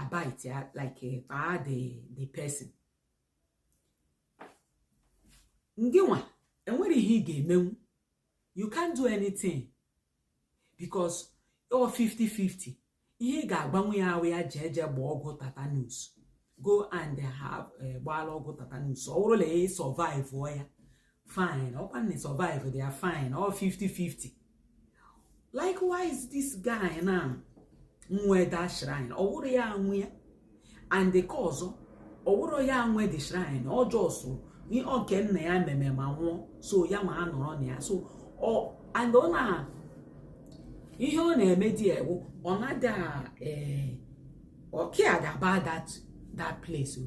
a-bite ya like kpaa the the person gị nwa enwere ihe ị ga-emenwu you can't do anything because ọ 50-50 ihe ị ga-agwanwu ya awụ ya jee jee gbaa ọgwụ tetanus go and have eh, gbaala ọgwụ tetanus ọ bụrụ na ị survive ya fine ọkwa na survivedị ya fine ọ 50-50 likewise this guy na nwe that shrine ọ wụrọ ya nwe ya and because ọ wụrọ ya nwe the shrine ọ just nke nna ya meme ma nwụọ so ya ma anọrọ na ya so ọ and ọ na ihe ọ na-eme there wụ ọ na-ada ee eh, ọ cared about that that place o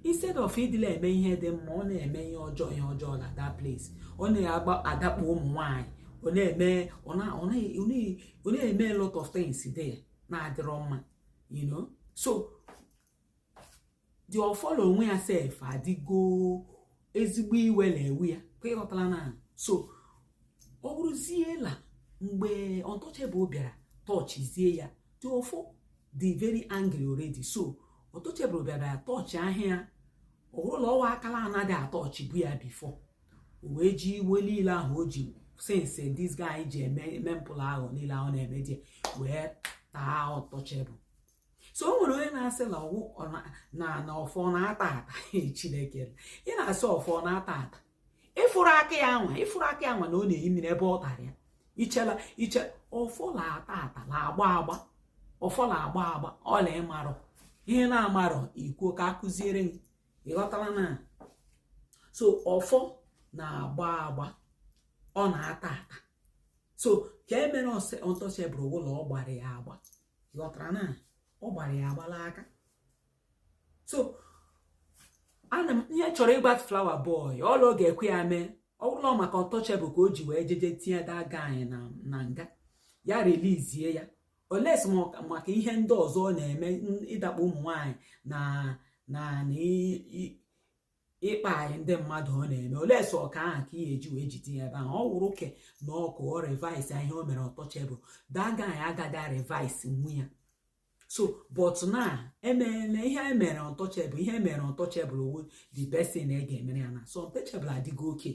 instead of ịdị la-eme ihe dị mma ọ na-eme ihe ọjọọ ihe ọjọọ na that place ọ na-adakpo ụmụ nwanyị ọ na-eme ọ na-eme a lot of things there na-adịrọ mma you know so the ọfọ l'onwe ya sef adịgo ezigbo iwe na-ewe ya ka ịghọtala na so ọ bụrụzie la mgbe untouchable bịara touchizie ya the ọfọ dị very angry already so untouchable bịara touch ahịa ya ọ bụrụ na ọ wụ aka la-anaghị a-touchbu ya before o wee ji iwe niile ahụ o ji since this guy ji eme mpụ la arụ niile ahụ na-eme there wee taa untouchable so o nwere onye na-asị na ọwụ na na ọfọ na-ata ata chineke ị na-asị ọfọ na-ata ata ịfụrụ aka ya nwa ịfụrụ aka ya nwa na ọ na-eyi mmiri ebe ọ tara ya iche la iche ọfọ na-ata ata na-agba agba ọfọ na-agba agba ọla ịmarọ ihe ị na-amarọ i kwuo ka akụziere gị ịghọtara na so ọfọ na-agba agba ọ na-ata ata so ke e mere untouchable wụ la ọ gbara ya agba ghọtara na ọ gbara ya agba l'aka so ana m ihe chọrọ ịgba flower boy ọla ọ ga-ekwe ya mee ọ bụrụ na maka untouchable ka o ji wee jeje tinye that guy na nga ya release ya unless maka ihe ndị ọzọ ọ na-eme ịdakpo ụmụ nwanyị na na ịkpa anyị ndị mmadụ ọ na-eme unless ọ ke ahụ ka ihe eji wee jide ya ebe ahụ ọ wụrụ ke na ọkụ ọ reverse ihe o mere untouchable that guy agaghị reverse nwu ya so but na emeela ihe e mere untouchable ihe e mere untouchable ọ wụ the best thing e ga-emere ya na so untouchable adịgo okay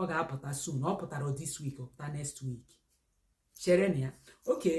ọ ga-apụta soon ọ pụtarọ this week ọ pụta next week chere na ya okay